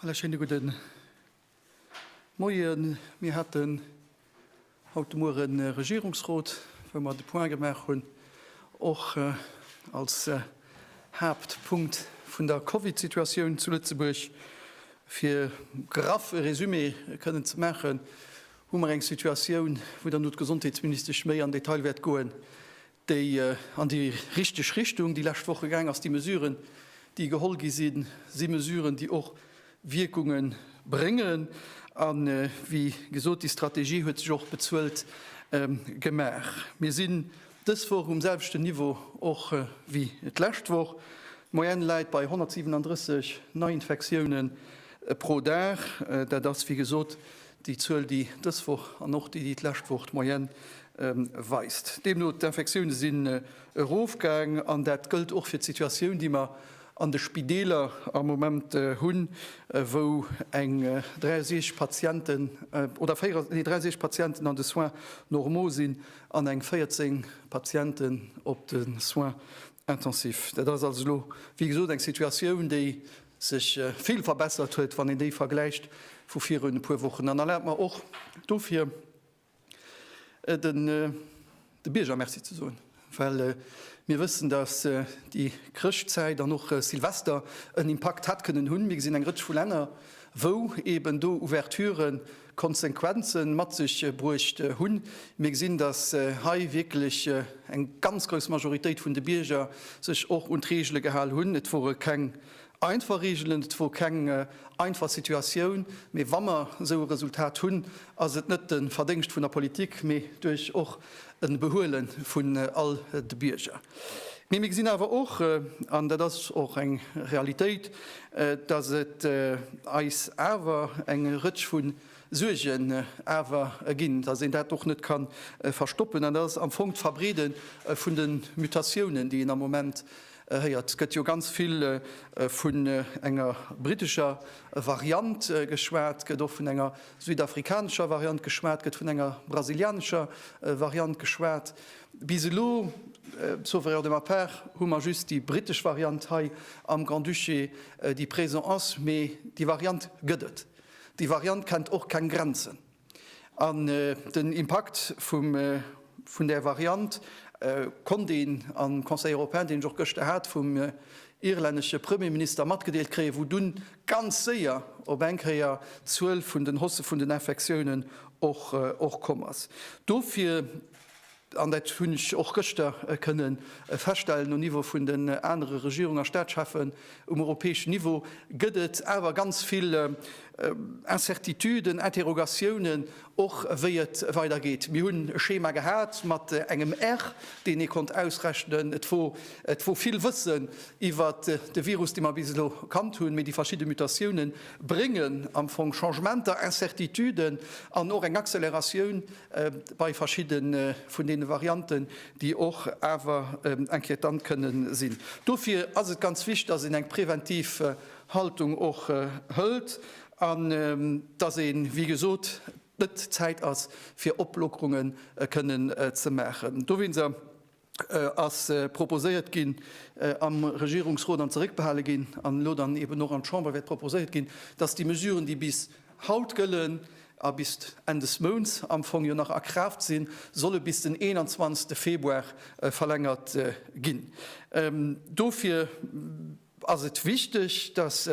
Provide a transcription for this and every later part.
Alle schéine gudde Moien. Mir haten haut de Mueren e Regierungsrot, wou mer de Point gemaach hunn, och als Haaptpunkt vun der Covid-Situatioun zu Lëtzebuerg. Fir graff e Resumé kënnen ze maachen, hu mer eng Situatioun, wou dann och d'Gesondheetsministesch méi am Detail wäert goen, déi an déi richteg Richtung déi lescht Woche gaang ass. Déi Mesuren, déi geholl gi sinn, si Mesuren, déi och Wierkunge bréngen. A wéi gesot, déi Strategie huet sech och bezuelt gemaach. Mir sinn dës Woch um selwechten Niveau och wéi d'lescht Woch. D'Moyenne läit bei 137 Neiinfektiounen pro Dag. Dat ass wéi gesot Déi Zuel, déi dës Woch an och déi, déi d'lescht Woch d'Moyenne weist deemno, d'Infektioune sinn erofgaang. An dat gëllt och fir d'Situatioun, déi mer an de Spideeler am Moment hunn, wou eng 63 Patienten oder 63 Patienten an de Soins normaux sinn an eng 14 Patienten op de Soins intensifs. Dat ass also elo, wéi gesot, eng Situatioun, déi sech vill verbessert huet, wann een déi vergläicht vu virun e puer Wochen. An erlaabt mer och dofir de Bierger Merci ze soen, well mir wëssen, dass déi Chrëschtzäit an och Silvester en Impakt hätt kënnen hunn. Mir gesinn eng Rëtsch vu Länner, wou eeben do Ouverturen, Konsequenzen mat sech bruecht hunn. Mir gesinn, dass hei wierklech eng ganz grouss Majoritéit vun de Bierger sech och un d'Reegele gehal hunn. Et wore keng einfach Reegelen, et wor keng einfach Situatioun, mee wa mer esou e Resultat hunn, ass et net de Verdéngscht vun der Politik, mee duerch och e Behuele vun all de Bierger. Mee mir gesinn awer och, an dat ass och eng Realitéit, datt et eis awer eng Rëtsch vu Suergen awer ginn, datt een dat och net ka verstoppen, an dat ass am Fong d'Verbreede vun de Mutatiounen, déi een am Moment héiert. Et gëtt jo ganz vill vun enger brittescher Variant geschwat, gëtt och vun enger südafrikanescher Variant geschwat, gëtt vun enger brasilianescher Variant geschwat. Bis elo, sauf erreur de ma part, hu mer just déi britesch Variant hei am Grand-Duché, déi présent ass. Mee déi Variant gëtt et. Déi Variant kennt och keng Grenzen. An den Impakt vum. Vun där Variant konnt een am Conseil européen, deen ech och gëschter hat, vum irlännesche Premierminister matgedeelt kréien, wou dunn ganz séier op eng Kéier d'Zuel vun den Hausse vun den Infektiounen och komm ass. Dofir, an dat hunn ech och gëschter kënne feststellen um Niveau vun den anere Regierungs a Staatscheffen um europäeschen Niveau, gëtt et awer ganz vill Incertituden, Interrogatiounen, Och wéi et weider geet. Mir hunn e Schema gehat mat engem R, deen ee konnt ausrechnen. Et wor, et wor vill Wëssen iwwer de Virus, dee mer bis elo kannt hunn, mee déi verschidde Mutatiounen bréngen am Fong Changementer, Incertituden an och eng Acceleratioun bei verschidde vun deene Varianten, déi och awer inquietant kënne sinn. Dofir ass et ganz wichtig, dass een eng präventiv Haltung och hëlt An dass ee wéi gesot net d'Zäit ass fir Oplockerunge kënnen ze maachen. Dowéinster ass proposéiert ginn am Regierungsrot an zeréckbehale ginn an elo dann eben och an d'Chamber wäert proposéiert ginn, dass déi Mesuren, déi bis haut gëllen a bis Enn des Mounts am Fong jo nach a Kraaft sinn, solle bis den 21. Februar verlängert ginn. Dofir. Ass et wichteg, dass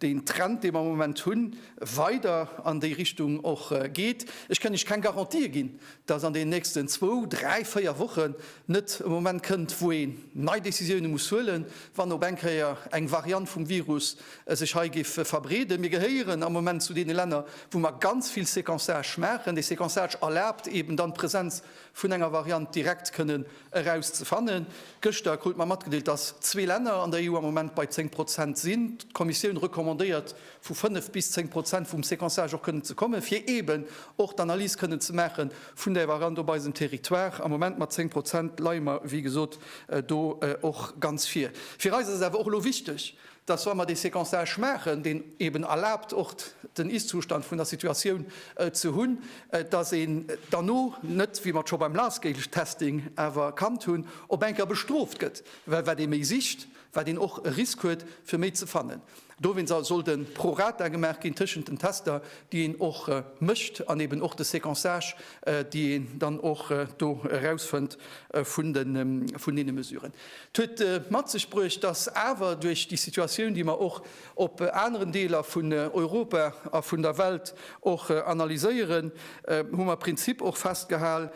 deen Trend, dee mer am Moment hunn, weider an déi Richtung och geet? Ech kënn Iech keng Garantië ginn, dass an deenen nächsten zwou, dräi, véier Wochen net e Moment kënnt, wou een nei Decisioune muss huelen, wann op eng Kéier eng Variant vum Virus sech hei géif verbreeden. Mir gehéieren am Moment zu deene Länner, wou mer ganz vill Séquençage maachen. Dee Séquençage erlaabt eeben dann d'Presenz vun enger Variant direkt kënnen Eraus ze fannen. Gëschter krut mer matgedeelt, dass zwee Länner an der EU am Moment bei 10 Prozent sinn. D'Kommissioun recommandéiert, vu 5 bis 10 Prozent vum Sequençage och kënnen ze kommen, fir eeben och d'Analys kënnen ze maache vun där Variant op eisem Territoire. Am Moment mat 10 Prozent leie mer, wéi gesot, do och ganz vir. Fir eis ass et awer och elo wichteg, dass wa mer dee Séquençage maachen, deen eben erlaabt och den Ist-Zustand vun der Situatioun ze hunn, dass een derno net, wéi mer et scho beim Large-Scale-Testing awer kannt hunn, op eng Kéier bestrooft gëtt, well wat ee méi sicht, wat een och e Risk huet fir méi ze fannen. Dowéinst sollt e Pro rata gemaach ginn tëschent den Tester, déi een och mécht, an eben och de Séquençage, déi een dann och do erausfënnt vun deene Mesuren. Et huet mat sech bruecht, dass awer duerch déi Situatioun, déi mer och op aneren Deeler vun Europa a vun der Welt och analyséieren, hu mer e Prinzip och festgehal,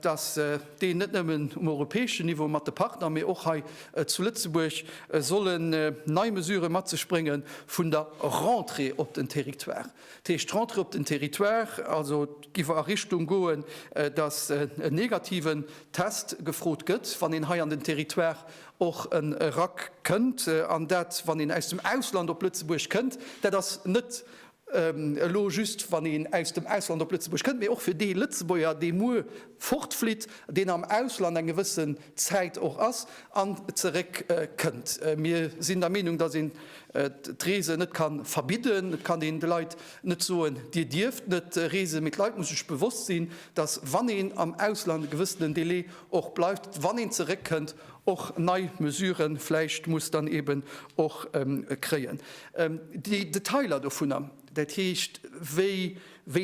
dass deen net nëmmen um europäeschen Niveau mat de Partner, mee och hei zu Lëtzebuerg sollen nei Mesurë mat sech brénge vun der Rentrée op den Territoire. Dat heescht, d'Rentrée op den Territoire, also et géif a Richtung goen, datt en negativen Test gefrot gëtt, wann een hei an den Territoire och erakënnt. An dat, wann een aus dem Ausland op Lëtzebuerg kënnt, dat ass net elo just, wann een aus dem Ausland op Lëtzebuerg kënnt, mee och fir dee Lëtzebuerger, dee muer fortflitt, deen am Ausland eng gewëssen Zäit och ass an zeréck kënnt. Mir sinn der Meenung, datt een d'Reese net ka verbidden. Et kann een de Leit net soen, Dir dierft net reesen. Mee d'Leit musse sech bewosst sinn, datt wann een am Ausland e gewëssenen Delai och bleift, wann een zeréck kënnt, och nei Mesurë vläicht muss dann eben och kréien. Déi Detailer dovunner, dat heescht wéi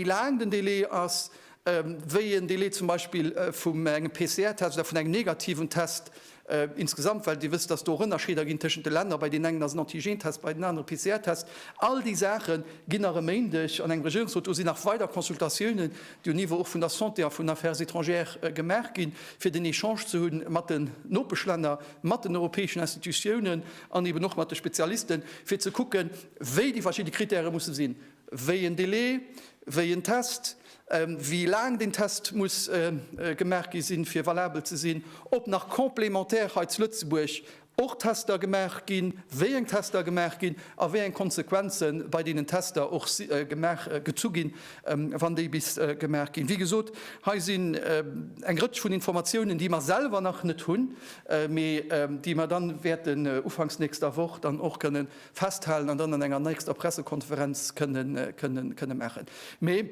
laang den Delai ass, wéi een Delai zum Beispill vum engem PCR-Test oder vun engem negativen Test insgesamt, well Dir wësst, dass do och Ënnerscheeder ginn tëschent de Länner, bei deenen engen ass en Antigen-Test, bei den anere PCR-Test. All déi Saache ginn nach e Méindeg an engem Regierungsrot, do sinn nach weider Consultatiounen, déi um Niveau och vun der Santé a vun den Affaires étrangères gemaach ginn, fir den Echange ze hunn mat den Nopeschlänner, mat den europäeschen Institutiounen an eben och mat de Spezialisten, fir ze kucken, wéi déi verschidde Krittäre musse sinn, wéi en Delai, wéi en Test. wéi laang deen Test muss gemaach gi sinn, fir valabel ze sinn, ob nach complémentaire hei zu Lëtzebuerg och Tester gemaach ginn, wéi eng Tester gemaach ginn a wéi eng Konsequenze bei deenen Tester och gemaach, gezu ginn, wann déi bis gemaach ginn. Wéi gesot, hei sinn eng Rëtsch vun Informatiounen, déi mer selwer nach net hunn, mee déi mer dann wäerten ufanks nächster Woch dann och kënnen festhalen an dann an enger nächster Pressekonferenz kënne maachen. Mee,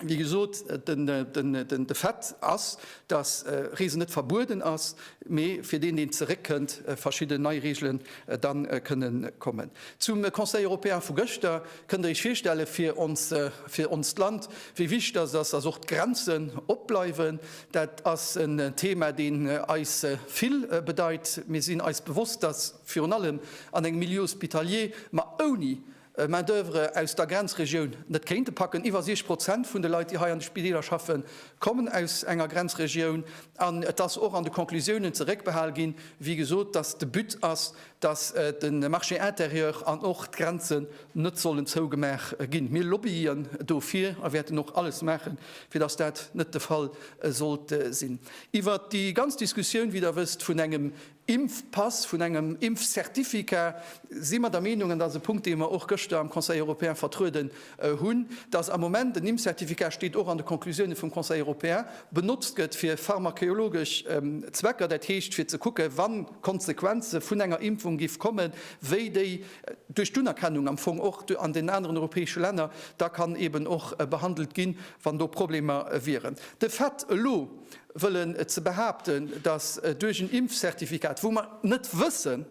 wéi gesot, de Fait ass, dass Reesen net verbueden ass, mee fir deen, deen zeréckkënnt, verschidden nei Reegelen da kënne kommen. Zum Conseil européen vu gëschter, Kënnt Der Iech virstellen, fir onst Land, wéi wichteg dass et ass, dass och d'Grenzen opbleiwen? Dat ass en Thema, deen eis vill bedeit. Mir sinn eis bewosst, dass. virun allem an engem Milieu hospitalier, ma ouni Main d'oeuvre aus der Grenzregioun net kéinte packen. Iwwer 60 Prozent vun de Leit, déi hei an de Spideeler schaffen, kommen aus enger Grenzregioun. An et ass och an de Conclusiounen zeréckbehal ginn, wéi gesot, datt de But ass, datt de Marché intérieur an och d'Grenzen net sollen zougemaach ginn. Mir lobbyen dofir a wäerten och alles maachen, fir datt dat net de Fall sollt sinn. Iwwert déi ganz Diskussioun, wéi Der wësst, vun engem Impfpass, vun engem Impfcertificat, si mer der Meenung, an dat ass e Punkt, dee mer och gëschter am Conseil européen vertrueden hunn, dass am Moment en Impfcertificat, steet och an de Conclusiounen vum Conseil européen, benotzt gëtt fir pharmakeologesch Zwecker, dat heescht fir ze kucken, wa Konsequenze vun enger Impfung géif kommen, wéi déi duerch d'Unerkennung am Fong och an den aneren europäesche Länner da kann eeben och behandelt ginn, wann do Problemer wieren. De Fait, elo Wëllen ze behaapten, datt duerch en Impfzertifikat, wou mer net wëssen,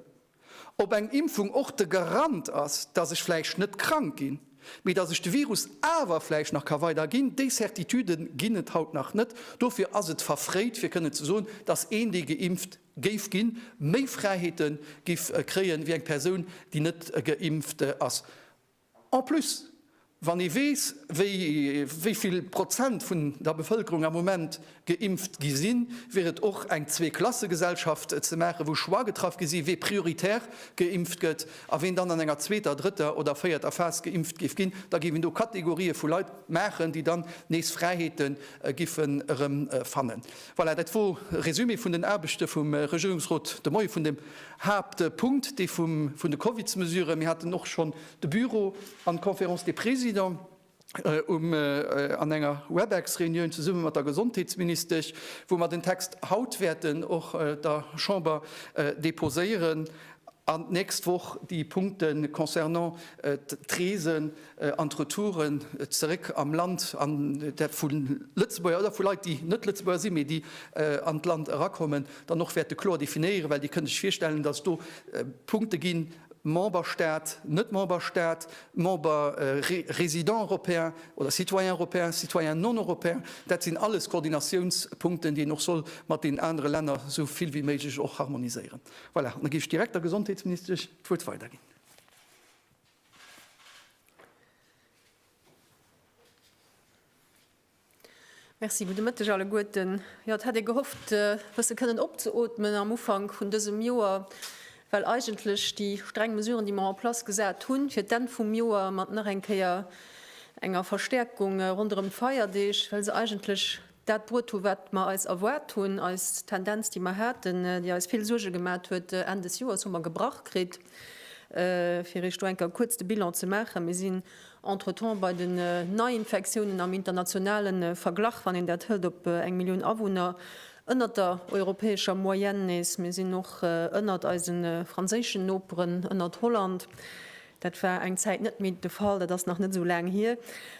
ob eng Impfung och de Garant ass, datt ech vläicht net krank ginn, mee datt ech de Virus awer vläicht nach ka weider ginn, déi Certitüde ginn et haut nach net. Dofir ass et verfréit fir kënnen ze soen, datt een, dee geimpft géif ginn, méi Fräiheete géif kréie wéi eng Persoun, déi net geimpft ass. En plus, wann ee weess, wéi vill Prozent vun der Bevëlkerung am Moment geimpft gi sinn, wier et och eng Zweeklassegesellschaft ze maachen, wou Choix getraff gi sinn, wee prioritär geimpft gëtt a ween dann an enger zweeter, drëtter oder véierter Phas geimpft géif ginn. Da géif een do Kategorië vu Leit maachen, déi dann nees Fräiheete giffen erëmfannen. Voilà, dat wor e Résumé vun den Aarbechte vum Regierungsrot de Moie vun deem Haaptpunkt dee vun de Covidsmesuren. Mir haten och schonn de Büro an d'Conférence des Présidents um an enger Webex-Reunioun zesumme mat der Gesondheetsministesch, wou mer den Text haut wäerten och der Chamber deposéieren an d'nächst Woch déi Punkte concernant d'Reesen, an d'Retouren zeréck am Land, an dat vu Lëtzebuerger oder vu Leit, déi net Lëtzebuerger sinn, mee déi an d'Land erakommen, dann och wäerte kloer definéieren. Well Dir kënnt Iech virstellen, datt et do Punkte ginn, Memberstat, net Memberstat, Member résident européen oder citoyen européen, citoyen non européen, dat sinn alles Koordinatiounspunkten, déi een och soll mat deenen anere Länner esou vill wéi méiglech och harmoniséieren. Voilà, an da géif ech direkt der Gesondheetsministesch d'Wuert weiderginn. Merci, gudde Mëtteg alleguerten. Jo, et hätt ee gehofft, e bësse kënnen opzeootmen am Ufank vun dësem Joer, well eigentlech déi streng Mesuren, déi mer en place gesat hunn fir d'Enn vum Joer mat nach eng Kéier enger Verstäerkung ronderëm d'Feierdeeg, well se eigentlech dat bruet hu wat mer eis erwaart hunn, eis Tendenz déi mer haten, déi eis vill Suerge gemat huet Enn des Joers hu mer gebrach kritt. Fir iech do eng Kéier kuerz de Bilan ze maachen, mir sinn entretemps bei den Neiinfektiounen am internationale Verglach, wann een dat hëlt op eng Millioun Awunner, ënnert der europäescher Moyenne nees. Mir sinn och ënnert eise franséischen Noperen, ënnert Holland. Dat war eng Zäit net méi de Fall, dat ass nach net esou laang hier.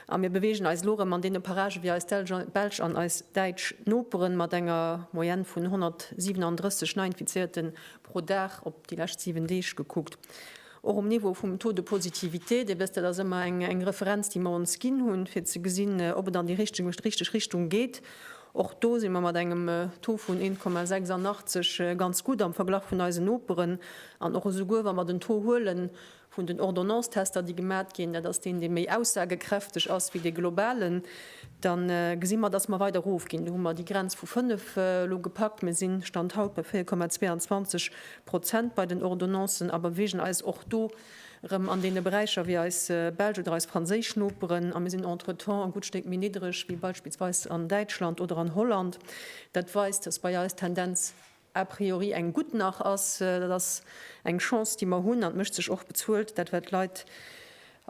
A mir beweegen eis elo erëm an deene Paragen, wéi eis belsch an eis däitsch Noperen, mat enger Moyenne vun 137 Neiinfizéierte pro Dag op déi lescht 7 Deeg gekuckt. Och um Niveau vum Taux de positivité, Dir wësst, dat ass ëmmer eng Referenz, déi mer ons ginn hunn, fir ze gesinn, ob et an déi richteg Richtung geet Och do si mer mat engem Taux vun 1,86 ganz gutt am Verglach vun eisen Noperen. An och esouguer wa mer den Taux huele vun den Ordonnance-Tester, déi gemat ginn, dat ass deen, dee méi aussagekräfteg ass wéi dee globalen, da gesi mer, datt mer weider erofginn. Do hu mer déi Grenz vu 5 elo gepackt. Mir si Stand haut bei 4,22 Prozent bei den Ordonnancen a bewegen eis och do erëm an deene Beräicher wéi eis belsch oder eis franséisch Noperen, a mir sinn entretemps e gutt Stéck méi niddreg wéi beispillsweis an Däitschland oder an Holland. Dat weist, dass bei eis d'Tendenz a priori eng gutt nach ass. Dat ass eng Chance, déi mer hunn, an et mécht sech och bezuelt, dat wat d'Leit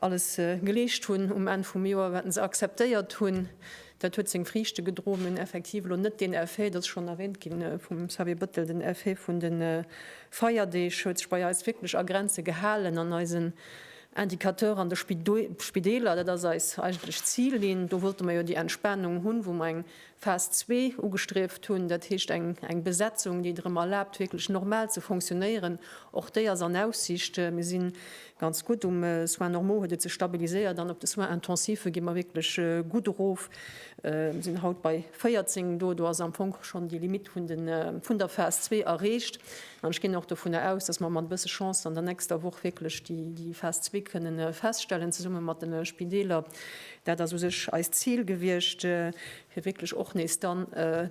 alles geleescht hunn um Enn vum Joer, wat se akzeptéiert hunn, dat huet seng Friichte gedroen. Mir hunn effektiv elo net deen Effet, et ass schonn erwähnt gi vum Xavier Bettel, den Effet vun de Feierdeeg huet sech bei eis wierklech a Grenze gehalen an eisen Indicateur an de Spideeler, dat ass eis eigentlech Zillinn, do wollte mer jo déi Entspanung hunn, wou mer eng Phas zwee ugestrieft hunn, dat heescht eng Besetzung, déi et erëm erlaabt wierklech normal ze fonctionnéieren, och déi ass an Aussicht. Mir si Ganz gutt. Um Soins normaux huet et sech stabiliséiert an op de Soins intensive gi mer wierklech gutt erof. Mir sinn haut bei 14. Do do ass am Fong schonn déi Limitt vun der Phas zwee erreecht. An ech ginn och dovunner aus, dass mer mat e bësse Chance an der nächster Woch wierklech déi Phas zwee kënne feststellen, zesumme mat de Spideeler. Dat ass u sech eist Zil gewiescht. fir wierklech och nees dann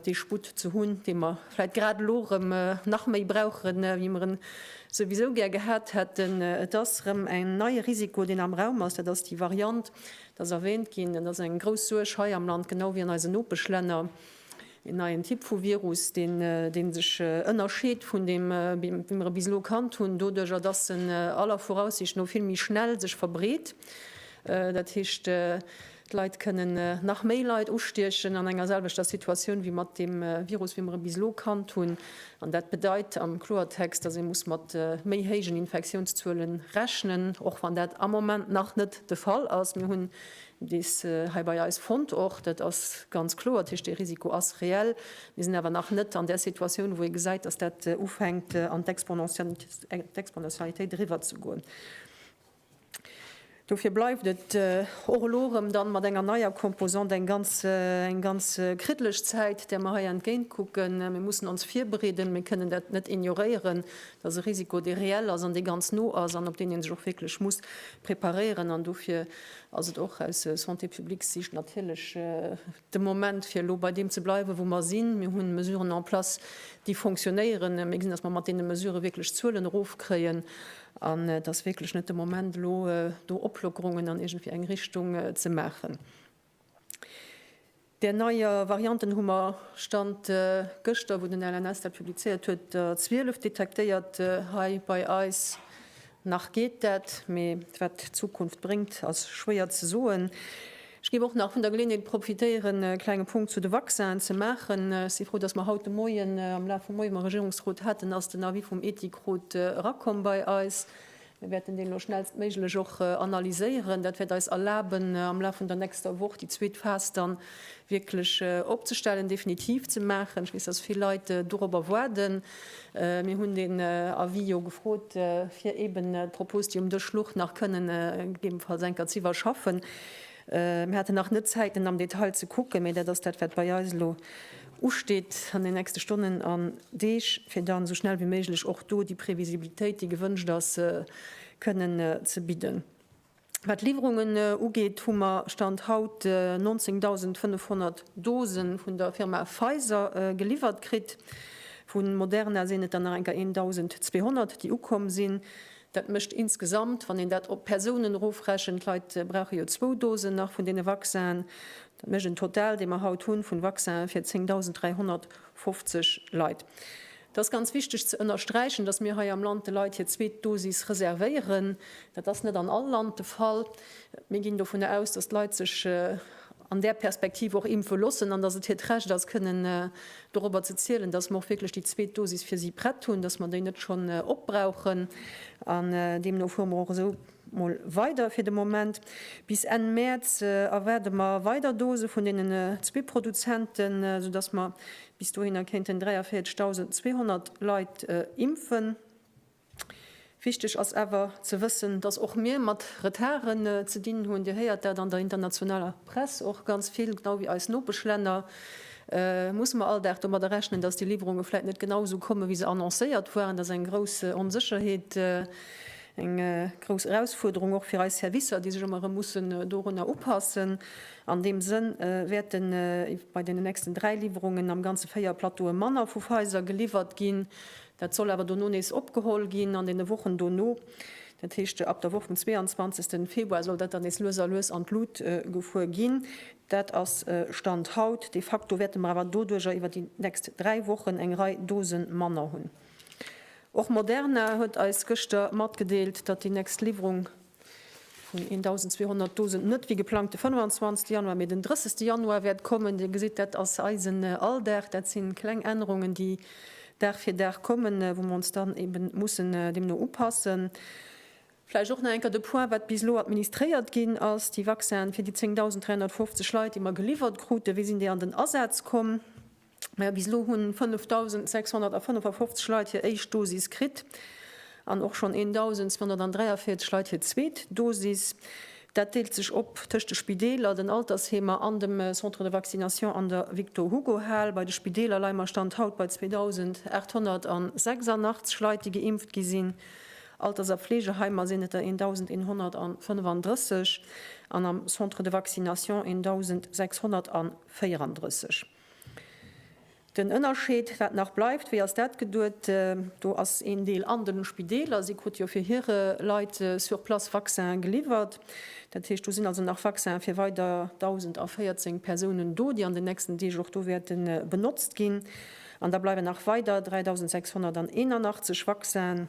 dee Sputt ze hunn, dee mer vläit grad elo erëm nach méi brauchen, wéi mer en souwisou gär gehat hätten. Et ass erëm en neie Risiko, deen am Raum ass, dat ass déi Variant, et ass erwähnt ginn, et ass eng grouss Suerg hei am Land, genau wéi an eisen Nopeschlänner, en neien Typ vu Virus, dee sech ënnerscheet vun deem, wéi mer e bis elo kannt hunn, doduerjer datt en aller Voraussicht no vill méi schnell sech verbreet. Dat heescht, D'Leit kënnen nach méi Leit ustiechen an enger selwechter Situatioun wéi mat dem Virus, wéi mer e bis elo kannt hunn. An dat bedeit am Kloertext, dass ee muss mat méi héijen Infektiounszuele rechnen, och wann dat am Moment nach net de Fall ass. Mir hunn dees hei bei eis fonnt och. Dat ass ganz kloer. Dat heescht, dee Risiko ass reell. Mir sinn awer nach net an där Situatioun, wou ee gesäit, dass dat ufänkt an d'Exponentialitéit eriwwerzegoen. Dofir bleift et och elo erëm dann mat enger neier Composante eng ganz, eng ganz kriddlech Zäit, där mer hei entgéintkucken. Mir mussen ons virbereeden. Mir kënnen dat net ignoréieren, dass e Risiko, dee reell ass an dee ganz no ass an op deen ee sech och wierklech muss preparéieren. An dofir ass et och aus Santé-publique-Sicht natierlech, de Moment, fir elo bei deem ze bleiwen, wou mer sinn. Mir hu Mesuren en place, déi fonctionnéieren. Mir gesinn, datt mer mat deene Mesurë wierklech d'Zuelen erofkréien an et ass wierklech net de Moment, elo do Oplockerungen an iergendwéi eng Richtung ze maachen. Där neier Varianten hu mer, Stand gëschter, wou den LNS dat publizéiert huet, der 12 detektéiert hei bei eis. Nach geet dat, mee wat d'Zukunft bréngt, ass schwéier ze soen. Ech géif och nach vun der Geleeënheet profitéieren, e klenge Punkt zu de Vaccinen ze maachen. Ech si frou, dass mer haut de Moien, am Laf vum Moie mam Regierungsrot haten, ass den Avis vum Ethikrot erakomm bei eis. Mir wäerten deen elo schnellstméiglech och analyséieren. Dat wäert eis erlaben, am Laf vun der nächster Woch déi zweet Phas dann wierklech opzestellen, definitiv ze maachen. Ech weess, dass vill Leit dorobber waarden. Mir hunn den Avis jo gefrot, fir eeben d'Propos, déi um Dësch luch, nach kënnen gegebenfalls eng Kéier ze iwwerschaffen. Mir haten nach net Zäit, en am Detail ze kucken, mä dat ass dat, wat bei eis elo usteet an den nächste Stonnen an Deeg, fir dann esou schnell wéi méiglech och do déi Previsibilitéit, déi gewënscht ass, kënnen ze bidden. Wat d'Liwwerungen ugeet, hu mer Stand haut 19.500 Dosen vun der Firma Pfizer geliwwert kritt. Vu Moderna sinn et der nach eng Kéier 1.200, déi ukomm sinn. Dat mécht insgesamt, wann een dat op d'Persounen erofrechent, d'Leit brauche jo zwou Dosen nach vun deene Vaccinen, dat mécht en Total, dee mer haut hu vun Vaccinen fir 10.350 Leit. Et ass ganz wichteg ze ënnersträichen, dass mir hei am Land de Leit hir zweet Dosis reservéieren. Dat ass net an all Land de Fall. Mir ginn dovun aus, dass d'Leit sech an där Perspektiv och impfe loossen an dass et hiert Recht ass, kënnen dorobber ze zielen, dass mer och wierklech déi zweet Dosis fir si prett hunn, dass mer déi net schonn opbrauchen. An deemno fuere mer och esou mol weider. Fir de Moment, bis Enn Mäerz, erwaarde mer weider Dose vun deenen zwee Produzenten, soudass mer Bis dohinner kéinten 43.200 Leit impfen. Wichteg ass awer ze wëssen, datt och mir mat Retarden ze dinn hunn. Dir héiert dat an der internationaler Press och ganz vill. Genau wéi eis Nopeschlänner musse mer all Dag domadder rechnen, datt déi Liwwerunge vläit net genau esou kommen, wéi se annoncéiert waren. Dat ass eng grouss Onsécherheet, eng grouss Erausfuerderung och fir eis Servicer, déi sech ëmmer erëm mussen dorunner upassen. An deem Sënn wäerten bei den nächsten dräi Liwwerungen am Ganze véier Plateaue manner vu Pfizer geliwwert ginn. Dat soll awer dono nees opgeholl ginn an den Wochen dono. Dat heescht, ab der Woch vum 22. Februar soll dat dann nees lues a lues an d'Lut gefuer ginn. Dat ass Stand haut. De facto wäerte mer awer doduercher iwwer déi nächst dräi Wochen eng Rei Dose manner hunn. Och Moderna huet eis gëschter matgedeelt, datt déi nächst Liwwerung Vun 1.200 Dosen net wéi geplangt de 25. Januar, mee den 30. Januar wäert kommen. Dir gesitt, dat ass eisen Alldag. Dat si kleng Ännerungen, déi Dag fir Dag kommen, wou mer ons dann eebe mussen deemno upassen. Vläicht och nach eng Kéier de Point, wat bis elo administréiert ginn ass, déi Vaccinen fir déi 10.350 Leit, déi mer geliwwert kruten, wéi sinn déi an den Asaz komm? Bis elo hunn 5.655 Leit hir éischt Dosis kritt an och schonn 1.243 Leit hir zweet Dosis. Dat deelt sech op tëscht de Spideeler, den Altersheemer an dem Centre de vaccination an der Victor-Hugo-Hal. Bei de Spideeler leie mer Stand haut bei 2.886 Leit, déi geimpft gi sinn. Alters a Fleegeheimer sinn et der 1.135 an am Centre de vaccination 1.634. Den Ënnerscheed, wat nach bleift, wéi ass dat geduet? Do ass een Deel an de Spideeler. Si krute jo fir hire Leit sur place Vaccin geliwwert. Dat heescht, do sinn also nach Vaccinen fir weider 1.014 Persounen do, déi an den nächsten Deeg och do wäerte benotzt ginn. An da bleiwen nach weider 3.681 Vaccinen,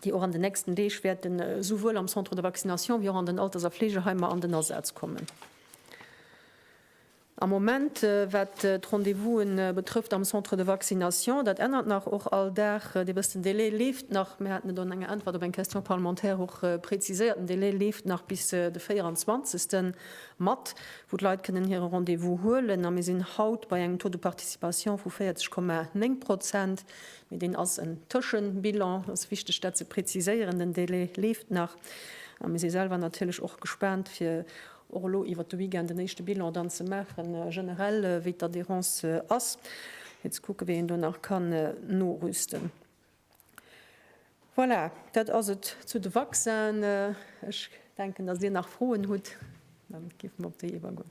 déi och an den nächsten Deeg wäerte souwuel am Centre de vaccination wéi och an den Alters a Fleegeheimer an den Asaz kommen. Am Moment, wat d'Rendez-vousen betrëfft am Centre de vaccination, dat ännert nach och all Dag, Dir wësst, den Délai leeft nach, mir haten et an enger Äntwert op eng Question parlementaire och präziséiert, den Délai leeft nach bis de 24. Mat, wou d'Leit kënnen hire Rendez-vous huelen. A mir sinn haut bei engem Taux de participation vu 40,9 Prozent, mee deen ass en Tëschebilan, et ass wichteg, dat ze präziséieren, den Délai leeft nach. A mir si selwer natierlech och gespaant, fir Och elo iwwert de Weekend en éischte Bilan dann ze maachen, generell wéi d'Adhérence ass, fir ze kucken, wéi een do nach kann norüsten. Voilà, dat ass et zu de Vaccinen. Ech denken, datt Dir nach Froen hutt, da géife mer op déi iwwergoen.